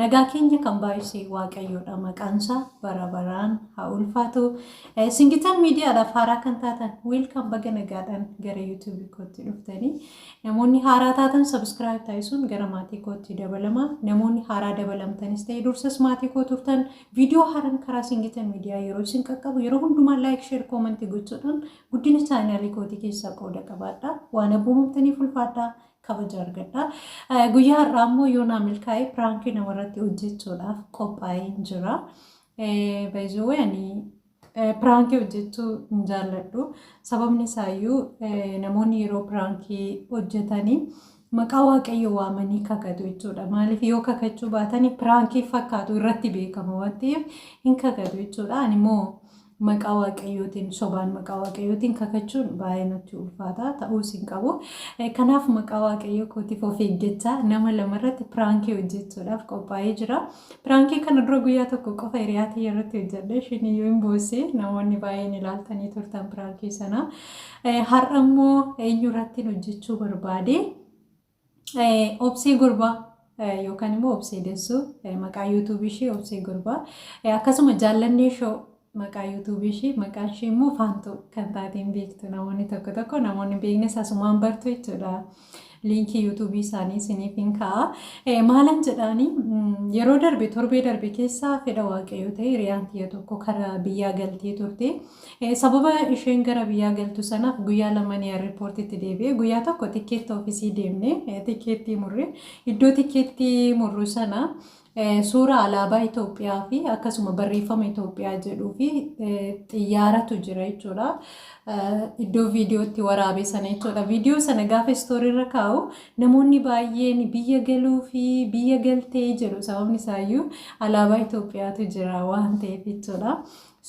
Nagaa keenya kan baay'ise Waaqayyoodha maqaansaa bara baraan haa ulfaatu. Eh, Singitan miidiyaadhaaf haaraa kan taatan wiilkaan baga nagaadhaan gara yuutuubii kootti dhuftanii namoonni haaraa taatan sabiskiraayib taasisuun gara maatii kootti dabalama. Namoonni haaraa dabalamtanis ta'e dursas maatii koo turtan viidiyoo haaraan karaa singitan miidiyaa yeroo isin qaqqabu yeroo hundumaa laayik sheer koomantii gochuudhaan guddina chaanaalii kootii keessaa qooda qabaadha. Waan abboomamtaniif ulfaadhaa. kabaja argadha. Eh, Guyyaa har'aa immoo yoo naa milkaa'e piraankii namarratti hojjechuudhaaf qophaa'een jira. Eh, By the way ani eh, piraankii hojjechuu hin jaalladhu. Sababni isaayyuu eh, namoonni yeroo piraankii hojjetanii maqaa waaqayyo waamanii kakatu jechuudha. Maaliif yoo kakachuu baatanii piraankii fakkaatu irratti beekama waan ta'eef hin kakatu jechuudha. Ani immoo maqaa waaqayyootiin sobaan maqaa waaqayyootiin kakachuun baay'ee natti ulfaataa ta'uus hin qabu. Kanaaf maqaa waaqayyoo kootiif of eeggachaa nama lamarratti piraankii hojjechuudhaaf qophaa'ee jira. Piraankii kana dura guyyaa tokko qofa hiriyaa tiyya irratti hojjedhe ishiin iyyuu hin boosse namoonni baay'een ilaaltanii turtan piraankii sana. Har'a immoo eenyu irratti hojjechuu barbaade? Obsee Gurbaa yookaan immoo Obsee Dessuu maqaa yuutuubii ishee Obsee Gurbaa akkasuma jaallannee shoo maqaa yuutuubii ishee maqaan ishee immoo Faantuu kan taateen beektu namoonni tokko tokko namoonni beeknes asumaan bartu jechuudha. Liinkii yuutuubii isaanii isiniif hin ka'a. Maalan jedhaanii yeroo darbe torbee darbe keessaa fedha waaqayyoo ta'e hiriyaan tiyya tokko karaa biyyaa galtee turte. Sababa isheen gara biyyaa galtu sanaaf guyyaa laman eerripoortitti deebi'e. Guyyaa tokko tikkeetti oofisii deemne tikkeettii murre. Iddoo tikkeettii murru sana suuraa alaabaa Itoophiyaa fi akkasuma barreeffama Itoophiyaa jedhuu fi xiyyaaratu jira jechuudha. Iddoo viidiyootti waraabe sana jechuudha. Viidiyoo sana gaafa istooriirra kaa'u namoonni baay'een biyya galuu fi biyya galtee jedhu sababni isaayyuu alaabaa Itoophiyaatu jira waan ta'eef jechuudha.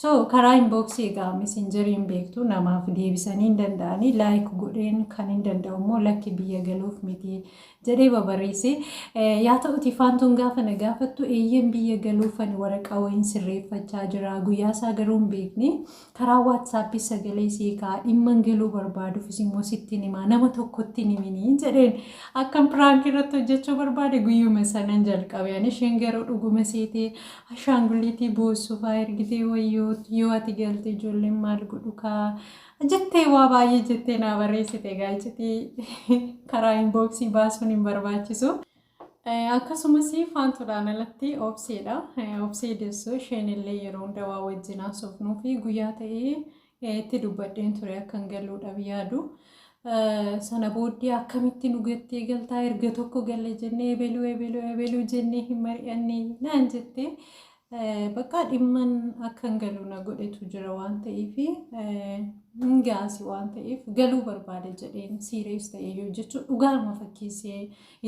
So karaa inbox egaa messenger hin beektu namaaf deebisanii hin danda'anii like godheen kan hin danda'u immoo lakki biyya galuuf miti jedhee babareesse yaa ta'uti faantuun gaafa na gaafattu eeyyeen biyya galuuf ani waraqaa wayiin sirreeffachaa jira guyyaa isaa garuu hin beekne karaa waatsaappii sagalee seekaa dhimman galuu barbaadufis immoo sittiin himaa nama tokkotti hin himinii jedheen akkan piraank irratti hojjechuu barbaade guyyuma sanan jalqabe ani isheen garuu dhuguma seetee Ashaanguliitii boossu faa ergitee wayyoo yoo ati galte ijoolleen maal godhu kaa jettee waa baay'ee jettee naa barreessite egaa iccitii karaa inbooksii baasuun hin barbaachisu. Akkasumas faantuudhaan alatti obseedha. Obsee dessoo isheen illee yeroo hunda waa wajjin haasofnuu fi guyyaa ta'ee itti dubbadheen ture akkan galuudhaaf yaadu. Sana booddee akkamitti nu gattee galtaa erga tokko galle jennee ebeluu ebeluu ebeluu jennee hin mari'anne naan jettee bakka dhimman akkan galu na godhetu jira waan ta'eef hin gaasi waan ta'eef galuu barbaada jedheen siirees ta'ee yoo jechuun dhugaarma fakkeessee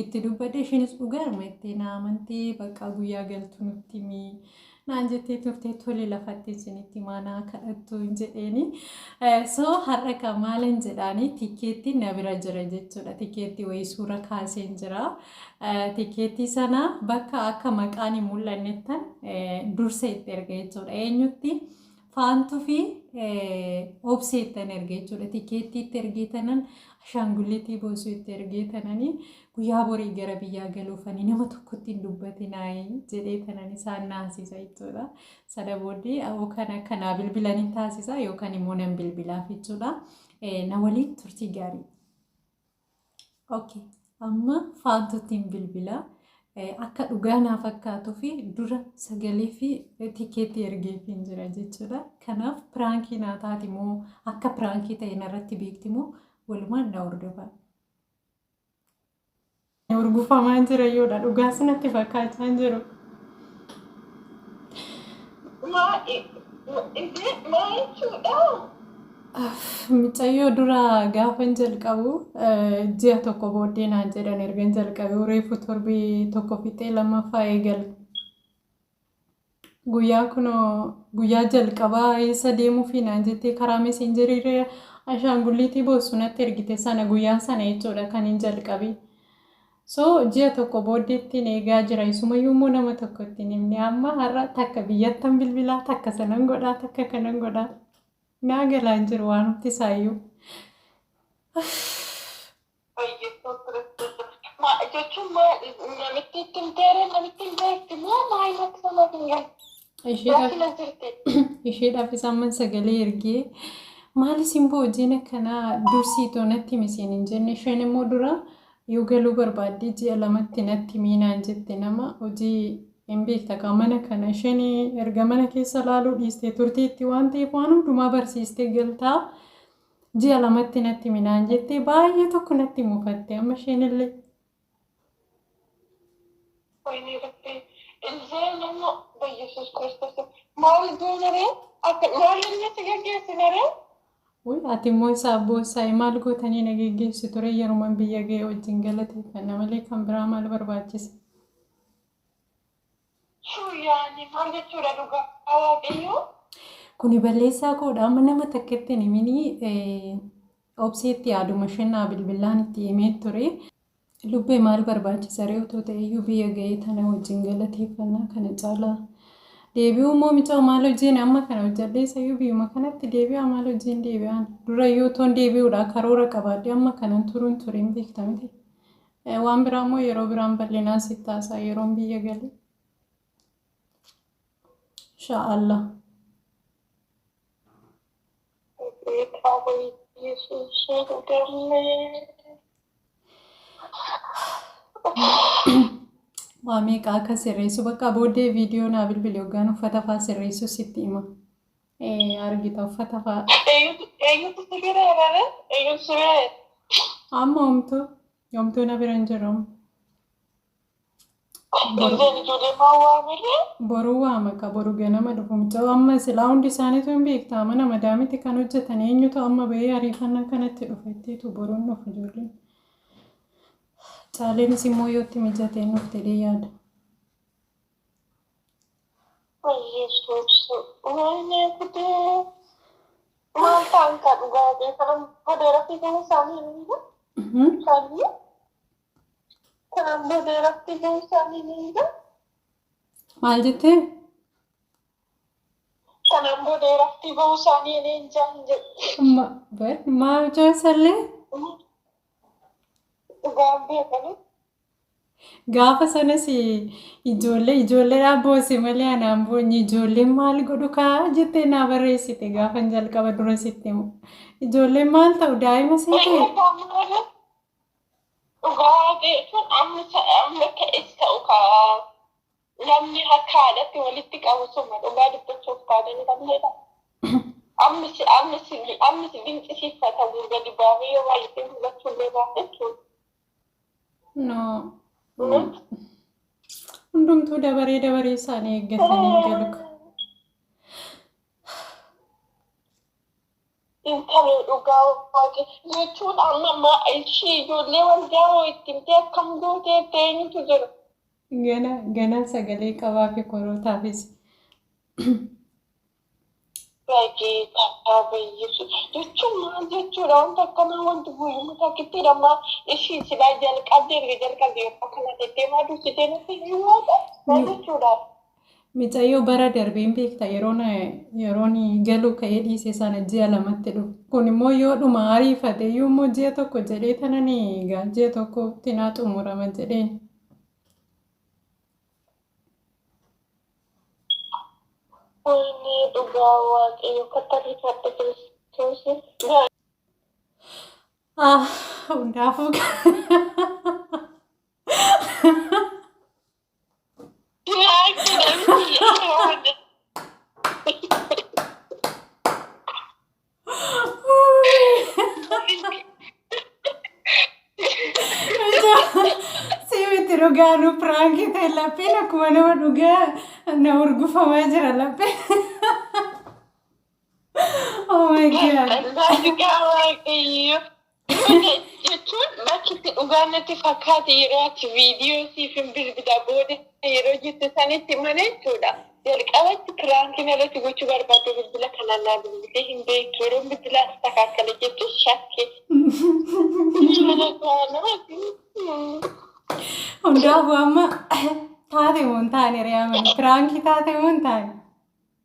itti dubbadhe ishiinis dhugaarma itti na amantee bakka guyyaa galtu nutti himii. naan jettee turte tole lafatti isinitti maanaa kadhattu hin jedheeni. Soo har'a ka maalan jedhaani tikeetti na bira jira jechuudha. Tikeetti wayii suura kaaseen jira. Tikeetti sana bakka akka maqaan hin mul'annettan dursa itti erga jechuudha. Eenyutti Faantu fi obsee ittan erge jechuudha. Tikeettii itti ergee tanan ashaangulliitii boosuu itti ergee tananii guyyaa borii gara biyyaa galuufanii nama tokkotti hin dubbatinaayii jedhee tanan isaan naasisa jechuudha. Sana booddee yookaan akka naa bilbilan hin taasisa yookaan immoo nan bilbilaaf jechuudha. Na waliin turtii gaarii. Okay. Amma faantuutiin bilbila akka dhugaa naa fakkaatuu fi dura sagalee fi tikeetii ergeefiin jira jechuudha. Kanaaf piraankii naa taati moo akka piraankii ta'e narratti beekti moo walumaan na hordofaa. Urgufamaa jira yoodha dhugaa sanatti fakkaachaa hin jiru. Maa, i- i- is it my too? Oh, Micayyoo dura gaafan jalqabu ji'a tokko booddee naan jedhan ergan jalqabe reefu torbee tokko fixee lammaffaa eegale. Guyyaa kunoo guyyaa jalqabaa eessa deemuufi naan jettee karaa meseenjeriirra ashaangulliitii boossu natti ergite sana guyyaan sana jechuudha kan hin jalqabe. So ji'a tokko booddeettiin eegaa jira isumayyuu immoo nama tokko ittiin himne amma har'a takka biyyattan bilbilaa takka sanan godhaa takka kanan godhaa. Naa galaa hin jiru waanumti isaayyuu. Baay'eessoo ture. Ma jechuun ma namitti itti himteere namitti hin beekti moo maal natti nama hin galu. Isheedhaaf Rakkina jirti. isheedhaaf isaamman sagalee ergee maali simboo hojiin akkanaa dursii too natti himi siin hin jenne isheen immoo dura Yoo galuu barbaaddee ji'a lamatti natti himii naan jette nama hojii hin beekta kaa mana kana isheen erga mana keessa laaluu dhiistee turteetti waan ta'eef waan hundumaa barsiistee galtaa ji'a lamatti natti himi naan jettee baay'ee tokko natti mufatte amma isheen illee. Wayinii irratti illee nama bayyesuus kiristoos maal goonaree akka maal inni si gaggeessinaree Wly ati immoo isaa abboo isaa i maal gootanii na geggeessitu ree yeroman biyya ga'e wajjin galateeffanna malee kan biraa maal barbaachise. Shuu yaani maal jechuudha dhugaa waaqayyoo. Kuni balleessaa koodha amma nama takketti hin himinii obseetti yaaduma isheen naa bilbillaan itti himee ture. Lubbee maal barbaachisa ree otoo ta'eyyuu biyya ga'ee tana wajjin galateeffannaa kana caalaa deebi'uu immoo micaa maal hojiin amma kana hojjadhee sayyuu biyyuma kanatti deebi'aa maal hojiin deebi'aan durayyuu otoon deebi'uudhaa karoora qabaadhe amma kanan turuun turiin beekta miti waan biraa immoo yeroo biraan bal'inaan sitti haasaa yeroon biyya galee inshaa Allah. Beekaa wayyeessuusaa dhugannee. Waa meeqa akka sirreessu bakka booddee viidiyoo naa bilbile hoggaan uffata faa sirreessu sitti hima. Eh, Argita uffata faa Eeyyutu eeyyutu si bira erare eeyyutu si bira erare. amma homtuu homtuu na bira hin jiru. Ijoolleen ijoollee maa waamillee? Boruu waama ka boru ganama dhufu mucaa amma silaa hundi isaaniitu hin beektaa mana madaamiti kan hojjetan eenyutu amma bahee ariifannaa kanatti dhufa ittiitu boruun dhufu ijoolleen. Caaleenis immoo yootti mijateen dhufte jedhee yaada. Yesuus wayne gudee maal ta'an ka dhugaa beekaman bodeera fiiganii isaanii hin jiru. Mhm. Isaanii Kan amma beeratti illee isaanii ni hiika. Maal jettee? Kan amma beeratti ba'uu isaanii ni hin jaan jedhe. Ma- bar- Maa mucaa sallee? Dhugaan beekanii. Gaafa sanas ijoollee ijoolleedhaan boose malee anaan boonye ijoolleen maal godhu kaa jettee naa barreessite gaafan jalqaba dura sitti himu. Ijoolleen maal ta'u daa'ima seetee? Egaa maal Dhugaa beekun amma ta- amma ta'es ta'u ka namni harka haadhatti walitti qabu suma dhugaa dubbachuuf taananii qabneedha. Amma si amma si amma si dinqisiifatamu gadi baafee yoo baay'isee mul'achuu illee baate jechuudha. No. Kunis Hundumtuu dabaree dabaree isaanii eeggatanii galu. Intaloo dhugaa waaqe jechuun amma ma ishii ijoollee waldaa hoo itti himtee akkam gootee itti eenyutu jira? Gana ganan sagalee qabaa fi korootaafis. Bageeta bayyisi jechuun maal jechuudha wanta akkanaa wanti guyyuma takkitti dhamma ishii silaa jalqabdee erga jalqabdee yeroo kana tettee maa dursitee natti hin himuu maal jechuudha? Micayyoo bara darbe hin beekta yeroon yeroon galuu ka'ee dhiise sana ji'a lamatti dhufe. Kun immoo yoo dhuma ariifate iyyuu immoo ji'a tokko jedhee tanan egaa ji'a tokko tinaa xumurama jedheen. Wayne dhugaa waaqayyo katarrifadha kiristoosii. Ah, hundaafuu. Siimiti dhugaa nu piraankii ta'e lapheen akkuma nama dhugaa na urgufamaa jira lapheen. Oh my god. Dhugaa waaqayyo. Dhugaa jechuun bakki itti dhugaa natti fakkaate yeroo ati viidiyoo siif hin bilbilaa booda yeroo jette sanitti mana jechuudha. Jalqabatti piraankiin irratti gochuu barbaadde bilbila kanaan naa bilbilee hin beektu yeroo bilbilaa si takaakkale jettu shakke. Mana gaanaati. Hundaafuu amma taate moo hin taane re'aa mana piraankii taate moo hin taane.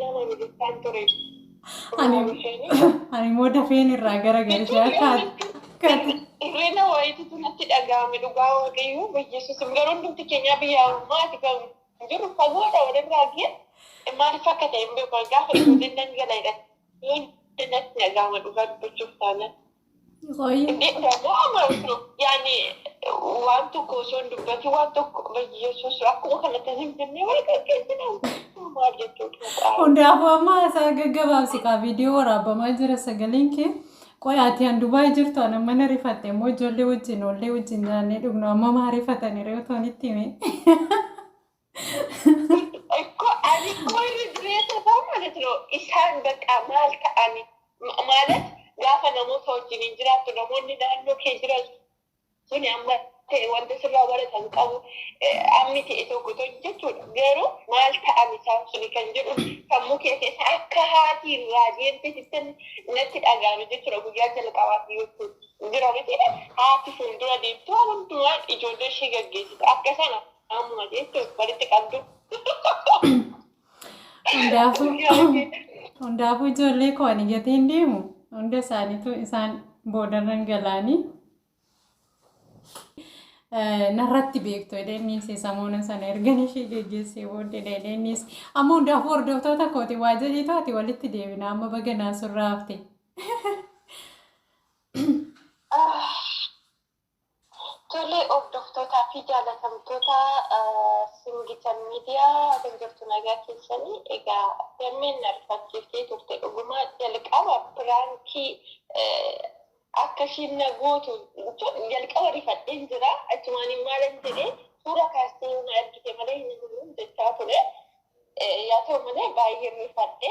Nama militaan ture. Ani immoo dafeen irraa gara galchee akka Irreena waayitiitu natti dhaga'ame dhugaa waaqayyoo bayyeessuusim garuu hundumti keenyaa biyya ammaati kan jirru fagoodha walirraa gee maaliif akka ta'e hin beeku gaafa ijoolleen nan gala jedhan yoo natti dhaga'ama dhugaa dubbachuuf taanaan. Qoyyi. Dhaga'a maal jiru? Yaani waan tokko osoo hin dubbatin waan tokko bayyeessuus akkuma kanatti zimzimmii wal gaggeessina maal jechuudha. Hundaafuu amma isaa gaggabaabsi kaa viidiyoo waraabamaa jira sagaleen kee. Qoy ati an Dubaay jirtu an amma na rifatte immoo ijoollee wajjin oollee wajjin nyaannee dhugnu amma maa rifatani reewu toonitti hime. Ko ani ko irra dureessa ta'u ማለት ነው isaan በቃ maal ta'ani Ma- ማለት gaafa namoota wajjin hin jiraattu namoonni naannoo kee jiran suni amma ta'e wanta sirraa baratan qabu Eh, ammi ta'e tokko to jechuudha garuu maal ta'an isaan suni kan jedhu sammuu kee keessa akka haati irraa deemte sittan natti dhaga'ame jechuudha guyyaa jalqabaati yoo ta'u jira miti haati fuuldura deemtu waan hundumaa ijoollee ishee gaggeessitu akka sana Amma jechuun walitti qabdu. Hundaafuu hundaafuu ijoollee koo ani gatee hin deemu hunda isaaniitu isaan boodarran galaanii eh, narratti beektu edeenniis samoona sana ergan ishee geggeessee booddee edeenniis amma hundaafuu hordoftoota kooti waa jedhii taate walitti deebina amma baga naasurraa hafte. Tole hordoftootaa fi jaalatamtoota Singitan Media akkam jirtu nagaa keessanii? Egaa Dammeen na rifachiiftee turte dhuguma jalqaba piraankii akka ishiin na gootu jalqaba rifadheen jira. Achumaan maalan jedhee suura kaastee yoo na argite malee hin amanu jechaa ture. Yaa ta'u malee baay'een rifadhe.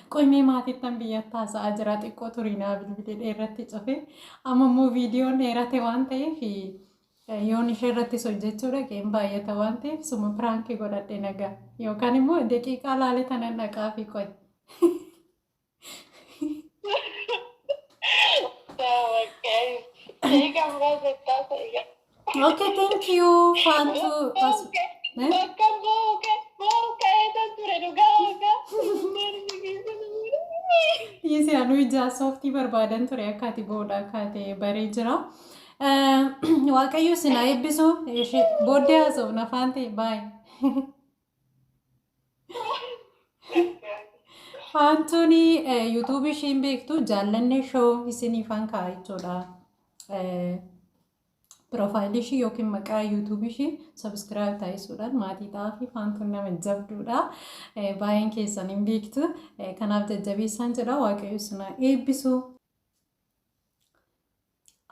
Qoy mee maatittan biyyatti haasa'aa jira xiqqoo turii naa bilbile dheerratti cufe amma immoo viidiyoon dheerate waan ta'eef yoon ishee irrattis hojjechuu dhaqeen baay'ata waan ta'eef suma piraankii godhadhe nagaa yookaan immoo daqiiqaa laale tanan dhaqaa fi qoy. Daawwaqqa. Eegaa muraasa itti haasa'e. Okay, thank you, Faantu. As- Eh? Bakka booka booru ka'ee kan ture dhugaa dhugaa. Maal si keessa nama Isi anu ija sooftii barbaadan ture akka ati boodha akka ati baree jira. Eh, Waaqayyo sinaa eebbisu ishee booddee haasofna faante baay'ee. Faantuun yuutuubii ishiin beektu jaallanne shoo isiniifan ka'a jechuudha. Piroofaayilii ishii yookiin maqaa yuutuubii ishii sabiskiraayib taasisuudhaan maatii ta'aa fi faantuun nama jabduudha. Baay'een keessan hin beektu. Kanaaf jajjabeessaan jedha waaqayyo isin haa eebbisu.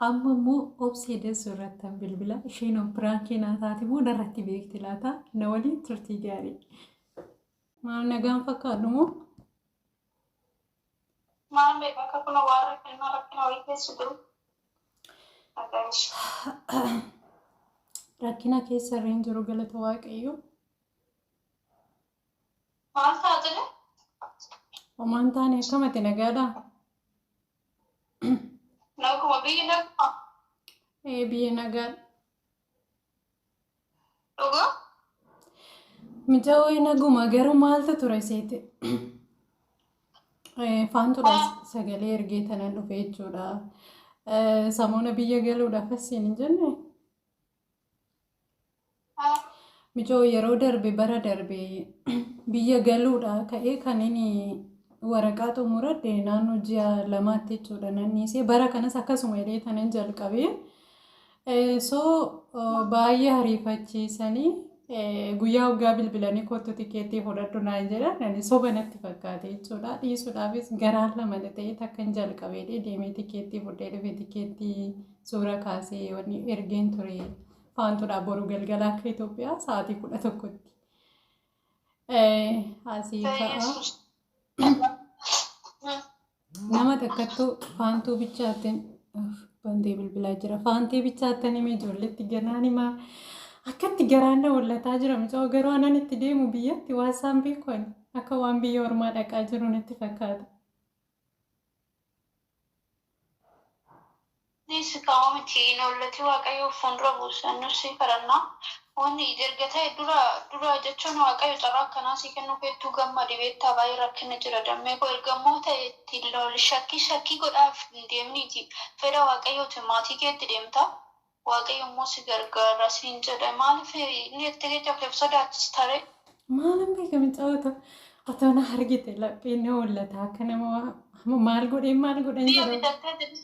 Amma immoo obsee dansu irratti an bilbila isheen piraankii naa taate moo narratti beekti laata na waliin turtii gaarii. Maal nagaan fakkaadhu moo? Maal beeku akka kun waan rakkina rakkina wayii keessa jiru. Nagaan ishee. Rakkina keessa irra hin jiru galata waaqayyoo. Maal taate jira? Homaan taane akkamati nagaadha. Naguma biyyi naguma. Ee biyya nagaa. Dhuga? Micaawee naguma garuu maaltu ture seete? Ee, Faantudha Ah. sagalee ergee tanan dhufe jechuudha. Ee, Samoona biyya galuudhaaf as siin hin jenne. Mijoo yeroo darbe bara darbe biyya galuudha ka'ee kan inni waraqaa xumuradhe naannoo ji'a lamaatti jechuudha nan dhiisee bara kanas akkasuma jedhee kanan jalqabe. So baay'ee hariifachiisanii guyyaa waggaa bilbilanii kottu tikeettii fudhadhu naan jedhan ani soba natti fakkaate jechuudha dhiisuudhaafis garaan lama ta'ee takkan jalqabee deemee tikeettii fudhee dhufe tikeettii suura kaasee wanni ergeen ture faantuudha boru galgala akka Itoophiyaa sa'aatii kudha tokkotti. Asii ka'a. Nama takkattuu faantuu bichaattiin bantee bilbilaa jira. Faantee bichaattan himee ijoolletti gannaan himaa. Akkatti garaan na wallataa jira mucaa garuu anan itti deemu biyyatti waan isaan beeku akka waan biyya ormaa dhaqaa jiru natti fakkaata. Dhiisi kaa homa miti hin oollati waaqayyoo fuundura buusa nus sii kadhanna wanni ija erga ta'e dura dura jechuun waaqayyo carraa akkanaa sii kennuu keettuu gammadi beektaa baay'ee rakkinni jira dammee koo erga immoo ta'e itti hin looli shakkii shakkii godhaaf hin deeminiiti fedha waaqayyootiin maatii keetti deemta Waaqayyo immoo si gargaara siin jedhe maaliif inni itti kecha kee of sodaachista ree? Maalan beeka micaa to atoo na argite lapheen na hollata akka nama waa- maal godheen maal godhan Mi'a jedhamu. bitattee deebi.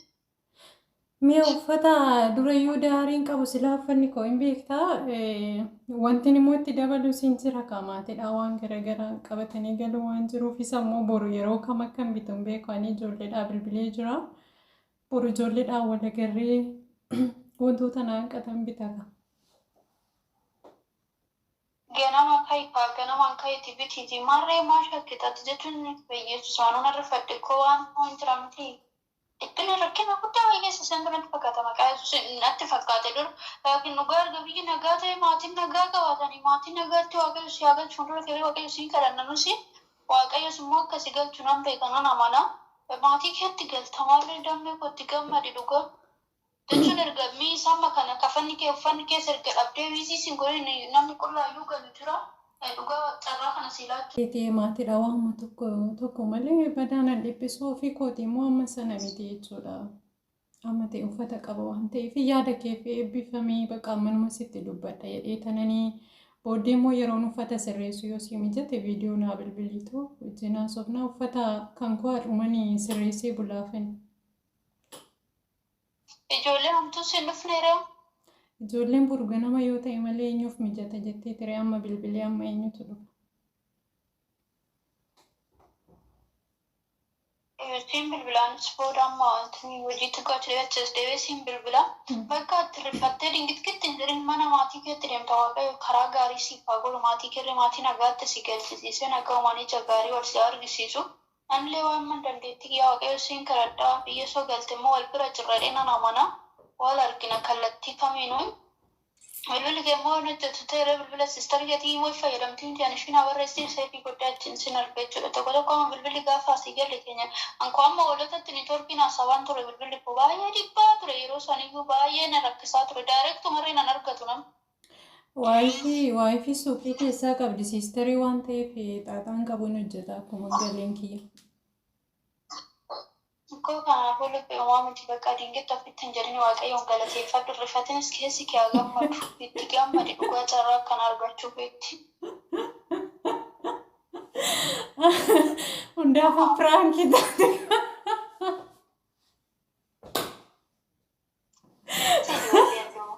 Mi'a uffata durayyuu daariin qabu silaa uffanni koo hin beektaa eh, wantin immoo itti dabalu siin jira qaamaatidha waan garagaraan qabatanii galuu waan jiruuf isa immoo boru yeroo kam akkan bitu hin beeku ani ijoolleedhaa bilbilee jira Boru ijoolleedhaan wal agarree wantoota na hanqatan bitata. Ganama ka'i kaa ganamaan ka'iitii bitiitii maarree maa shakkita ati jechuun Bayyeessus anuu nan rifadhe koo waan hoo hin jira mitii dhiphina rakkina guddaa Bayyeessa seentu natti fakkaata maqaa Yesuusiin natti fakkaate dur laakiin dhugaa erga biyyi nagaa ta'e maatiin nagaa qabaatanii maatii nagaatti waaqayyo si haa galchu fuuldura keelee waaqayyo siin kadhanna nusi Waaqayyos immoo akka si galchu nan beeka, nan amana. Maatii keetti galta maarree dammi koo itti gammadi dhuga jechuun erga miis amma kana kafanni kee uffanni kees erga dhabdee wiiziis hin godhin namni qullaayyuu galu jira dhugaa waaq carraa kana sii laachuu. keetii maatiidha waanuma tokko tokko malee badaa nan dhiphisu ofii kootii immoo amma sana miti jechuudha. Amate uffata qaba waan ta'eef yaada keef eebbifamii baqa manuma sitti dubbadha jedhee tananii booddee immoo yeroon uffata sirreessu yoo sii mijate viidiyoo naa bilbiliitu wajjin haasofna uffata kan koo har'umanii sirreessee bulaafin. Ijoollee hamtuu siin dhufneera. Ijoolleen boru ganama yoo ta'e malee eenyuuf mijata jettee ture amma bilbilee amma eenyutu dhufa. Siin bilbilaan si booda amma wanti hojii xiqqoo achi deebi'ee achis deebi'ee siin bilbila. Bakka itti rifattee dingitkitti hin jedhin mana maatii keetti deemta waaqayyo karaa gaarii siif haa godhu maatii keerri maatii nagaatti si galchisiisee nagaumaan ija gaarii wal si haa argisiisu. Anillee waanman dandeetti kiyyaa waaqayyo siin kadhadha biyya soo galte immoo wal bira jirra jedhee nan amana wal argina kallattii kamiinuu. Bilbilli kee immoo hin hojjetu ta'e irra bilbila sister keetii imoo hin fayyadamtii miti ani ishii naa barreessiti save godhee achiin sin arga jechuudha tokko tokko amma bilbilli gaafa asii galle keenya an koo amma hoolotatti networkiin haasawaan ture bilbilli koo baay'ee dhibbaa ture yeroo saniyyuu baay'ee na rakkisaa ture direct marree nan argatu nama Waayifii waayifii suuqii keessaa qabdi siistarii waan ta'eef xaaxaan qabu hin hojjeta akkuma galeen kiyya. Mko kanaafuu lubbi omaa miti baqaa dingitti offitti hin jedhini waaqayyoon galateeffadhu hin rifatinis keessi kee haa gammadu itti gammadi dhugaa carraa akkana argachuu keetti. Hundaafuu piraankii taate. Sidi wallee hin dhumu.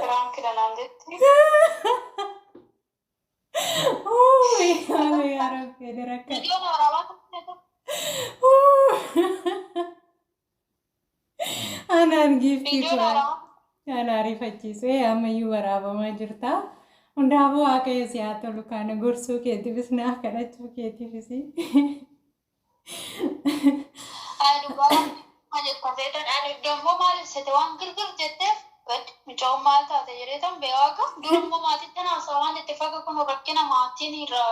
Piraanki danaan jetti. Uuy, haala yaa rabbi ani rakka. Viidiyoon waraabaa tokko tokko Anaan giiftii viidiyoon kuraa. waraabaa tokko Kan ariifachiisu ee ammayyuu waraabamaa jirta. Hundaafuu waaqayyo si haa tolu kana gorsuu keetiifis naaf kadhachuu keetiifis. Haa dhugaa rabbi ma jettan seetan ani dammoo maaliif sete waan girgir jetteef bad mucaan maal taate jedheetan bee waaqa dura immoo maatiittan haasaa waan itti faga kun rakkina maatiin irra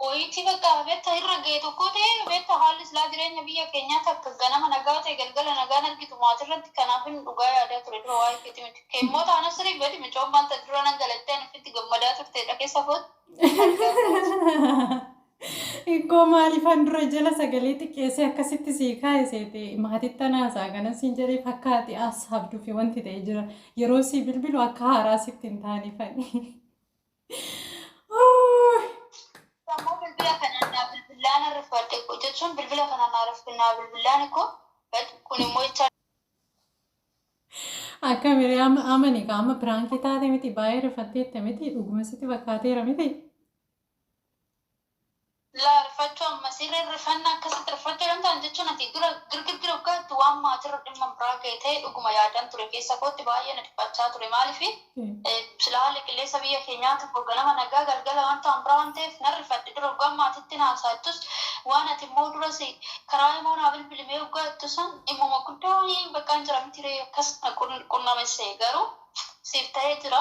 wayiitii bakka beetta irra ga'e tokkoo ta'e beetta haalli silaa jireenya biyya keenyaa takka ganama nagaa ta'e galgala nagaan argitu maatii irratti kanaafin dhugaa yaadaa ture dura waa'ee keetii miti immoo taana sirii bad mucaan maal taate dura nan galattee ani ofitti gammadaa turteedha keessa kootti argaa kootti. Ikkoo maaliifan dura jala sagalee xiqqeessee akkasitti sii kaa'e seete maatitti anaasaa kanan siin jedhee fakkaati as habduu fi wanti ta'e jira yeroo sii bilbilu akka haaraa sitti hin taane fani. Sammuu bilbila kanaan naa bilbillaan arriffadhe koo jechuun bilbila kanaan naa rafte naa bilbillaan koo bad kun immoo jecha Akka miree amma amani ka amma piraankii taate miti baay'ee rifatteette miti dhuguma sitti fakkaateera miti. Laa rifachuu amma sirri rifanna akkasitti rifachuu dantaan jechuun ati dura girgirgir hoggaatti waan maatirra dhimma biraa ga'e ta'e dhuguma yaadan ture keessa kootti baay'ee na dhiphachaa ture maaliif silaa haalli qilleensa biyya keenyaa tokko ganama nagaa galgala wanta waan biraa waan ta'eef nan rifadhe dura hoggaan maatitti na haasaattus waan ati immoo duras karaa imoo naa bilbilimee hoggaattu san dhimmuma guddaa wayii baqqaan jira mitiree akkas na qunnamesse garuu siif ta'ee jira.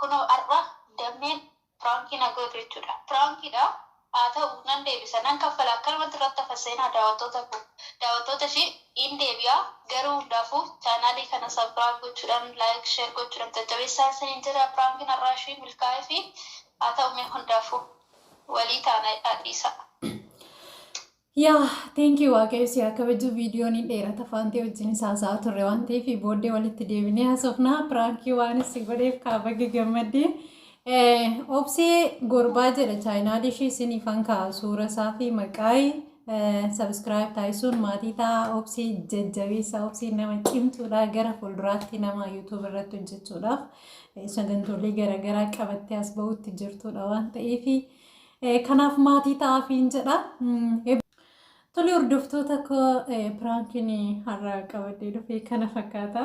Kunoo ar'a dammeen piraankii na gootu jechuudha. Piraankiidha haa ta'u nan deebisa nan kaffala akkanumatti irratti hafa seenaa daawattoota koo daawattoota ishee in deebi'a garuu hundaafuu chaanaalii kana sabcraib gochuudhan like share gochuudhan jajjabeessaa isiniin jedha piraankiin ar'aa ishii milkaa'eefi haa ta'u mee hundaafuu walii taana jedhaa dhiisaa. Yaa teenkii waaqayyo si haa kabajuu viidiyoon hin dheerata faantee wajjin haasa'aa turre waan ta'eef booddee walitti deebinee haasofnaa piraankii waan si godheef kaa baga gammaddee. Obsee gorbaa jedha chaayinaalii ishee isiniif hankaa suura isaa fi maqaayi sabiskiraayib taasisuun maatii ta'a obsee jajjabeessa obsee nama cimtuudha gara fuulduraatti nama yuutuub irratti hojjechuudhaaf sagantoolee garaagaraa qabattee as ba'utti jirtuudha waan ta'eefi. Kanaaf maatii ta'aafiin jedha. Tole hordoftoota koo piraankiin har'a qabadee dhufe kana fakkaata.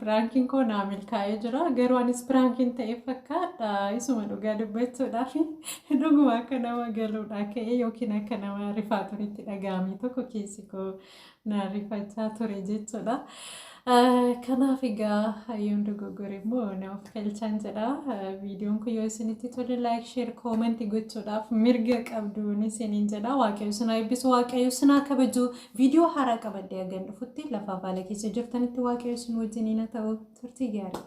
Piraankiin koo naa milkaa'ee jira. Garuu anis piraankiin ta'e fakkaadha. Isuma dhugaa dubbachuudhaaf dhuguma akka nama galuudhaa ka'ee yookiin akka nama rifaaturitti dhaga'amee tokko keessi koo na rifachaa ture jechuudha. Kanaaf egaa yoon dogoggore immoo na of galchaan jedha. Viidiyoon kun yoo isinitti tole laayik sheer koomanti gochuudhaaf mirga qabduun isiniin jedha. Waaqayyo isin haa eebbisu waaqayyo isin haa kabaju. Viidiyoo haaraa qabadhee hagan dhufutti lafa baala keessa jirtanitti waaqayyo isin wajjiniin haa ta'u turtii gaarii.